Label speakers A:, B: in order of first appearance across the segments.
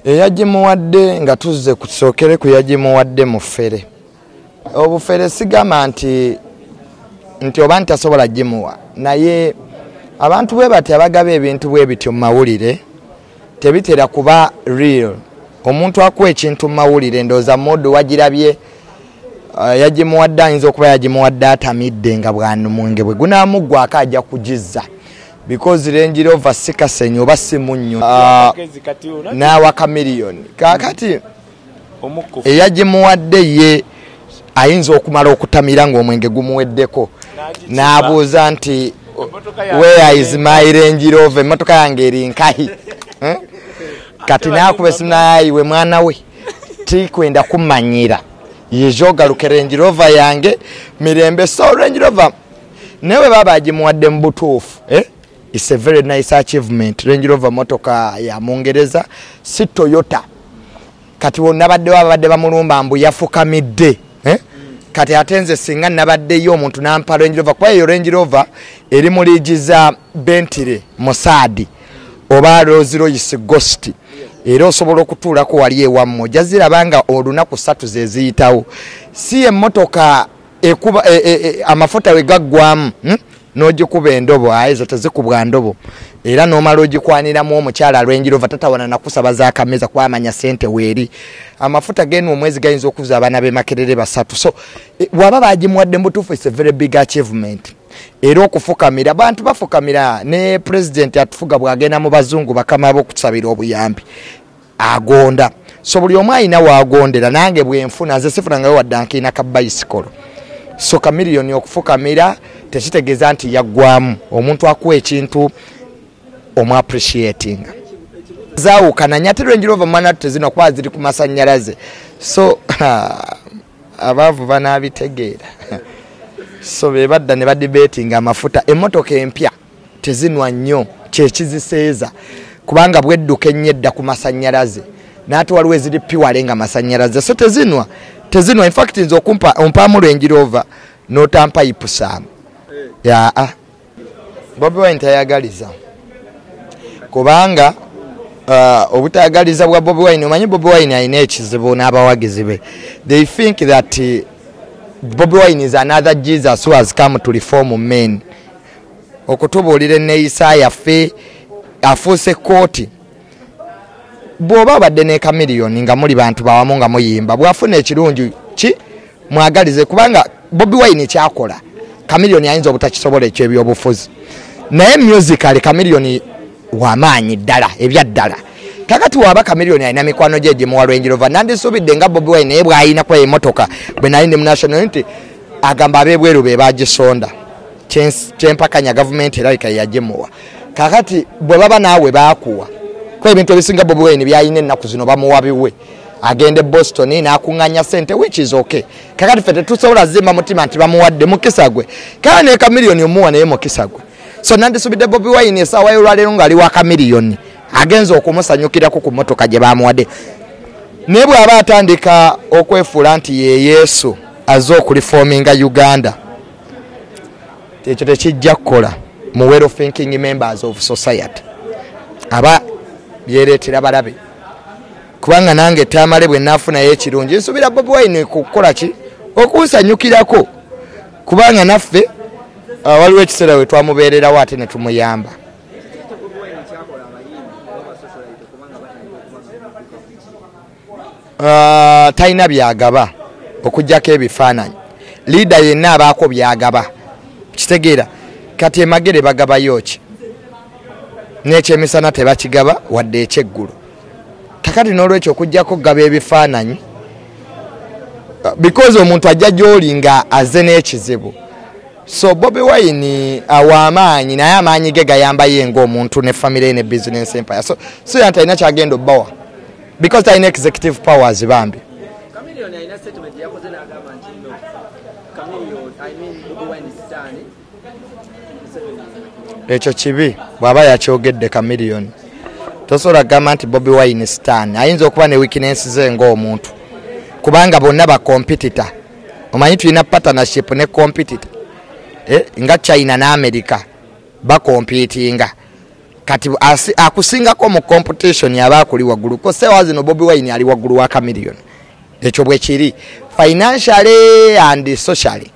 A: eyagimuwadde nga tuzze kusookere ku yagimuwadde mufere obufere sigamba nti nti oba nti tasobola gimuwa naye abantu bwe bati abagaba ebintu bwe bityo mu mawulire tebitera kuba real omuntu akuwa ekintu mu mawulire ndooza modu wagirabye uh, yagimuwadde ayinza okuba yagimuwadde atamidde nga bwanumwenge bwe gunamuggwako ajja kugizza because range rover si kasenyi oba si munnyo ah, n'awa kamiliyoni kaakati eyagimuwadde ye ayinza okumala okutamira ng'omwenge gumuweddeko n'abuuza nti where is my range rover emmotoka yange eri nkahi eh? kati n'akuba esimu nayayiwe mwana we tikwenda kumanyira yejogaluke range rover yange mirembe so range rover naye bwe baba agimuwadde mu butuufu eh? its a very nice achievement range rover motoka ya mungereza si toyota kati nabaddewo ababadde bamulumba mbu yafukamidde eh? kati ate nze singa nabaddeyo omuntu nampa range rover kuba eyo range rover eri mu liigi za bentire musaadi oba roziroyisi gosti era osobola okutuulako wali ewammwe ojaziraba nga olunaku satu zeziyitawo si emotoka ekuba e, e, e, amafuta we gaggwamu hmm? n'ogikuba endobo aye zo tezikubwa ndobo era n'omala ogikwaniramu omukyala alwengirova tatawana nakusaba zakameza kwamanya sente weeri amafuta genu omwezi gayinza okuza abaana bemakerere basatu so e, waba bagimuwadde mubutuufu is a very big achievement era okufukamira abantu bafukamira ne pulezidenti atufuga bwagenda mu bazungu bakama bokusabira obuyambi agonda so buli omu alina wagondera nange bwenfuna nze sifunangayo wadda nkiina ka bayisikolo so kamiliyoni okufukamira tekitegeeza nti yaggwamu omuntu akuwa ekintu omu appreciatinga zawukana nyate lwenjira ova mwana tezino kuba ziri ku masanyalaze so abaavu banabitegeera so bebadda ne badibetinga amafuta emotoka empya tezinwa nnyo kyekiziseeza kubanga bwedduka ennyo edda ku masannyalaze naate waliwo eziri piwale nga masannyalaze so tezinwa tezinwa infact nze okumpa ompaamu lwenjiroova notampa ipusaamu eh. yaa ah. bobi wine tayagaliza kubanga uh, obutayagaliza bwa bobi wine omanyi bobi wine alina ekizibu n'abawagizi be they think that uh, bobi wine is another jesus who has come to reform men okutubuulira enneeyisa yaffe afuuse kooti bw'oba abadde ne kamiliyoni nga muli bantu bawamu nga muyimba bw'afuna ekirungi ki mwagalize kubanga bobi wine kyakola kamiliyoni ayinza obutakisobola ekyo ebyobufuzi naye musically kamiliyoni wamaanyi ddala ebyaddala kakati waba kamiliyoni alina mikwano gye gimuwa lwenjirova nandisuubidde nga bobi wine naye bw'ayina kuba emotoka bwe nali ndi mu national nti agamba ab'ebweru be bagisonda kyempakanya gavumenti erabika yajemuwa kakati bwe baba naawe baakuwa ku ebintu ebisinga bobi wine byalina ennaku zino bamuwa biwe agenda e boston n'akuŋŋanya sente which is ok kakati fe tetusobola zimba mutima nti bamuwadde mukisa gwe kale ne kamiliyoni omuwa naye mukisa gwe so nandisubidde bobi wine esaawa yolwaleero ng'ali wa kamiliyoni agenza okumusanyukirako ku motoka gye bamuwadde naye bw'aba atandika okwefuula nti ye yesu azze okulifoominga uganda ekyo tekijja kukola mu well thinking members of society aba byereetera balabe kubanga nange tamale bwe nafunayo ekirungi nsuubira bobi wine kukola ki okunsanyukirako kubanga naffe uh, waliwo ekiseera we twamubeererawo ate ne tumuyamba uh, talina byagaba okujjako ebifaananyi liida yenna abaako byagaba kitegeera kati emagere bagabayo ki n'ekyemisana tebakigaba wadde ekyeggulu kakati n'olwekyo okujjako okugaba ebifaananyi uh, because omuntu ajja gy'oli nga aze n'ekizibu so bobi wine awa amaanyi naye amaanyi ge gayambayo engaomuntu ne famire ne business empire so so yanti alina kyagenda obbawa because talina executive powers bambi ekyo kibi bwaba yakyogedde kamiliyoni tosobola kugamba nti bobi wine stan ayinza okuba ne wikinensi ze ngaomuntu kubanga bonna bakompitita omanyi tulina partnership ne compitita eh, nga china ne america bakompitinga kati akusingako mu competition yaba akuli waggulu ko sewa zino bobi wine ali waggulu wa camilion ekyo bwe kiri financially and socially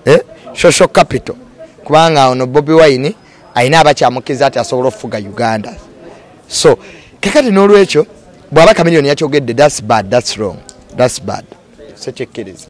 A: eh? social capital kubanga ono bobi wine alina abakyamukiza ati asobola okufuga uganda so kakati n'olwekyo bw'aba camilion yakyogedde thats bad thats wrong thats bad sekyekiriza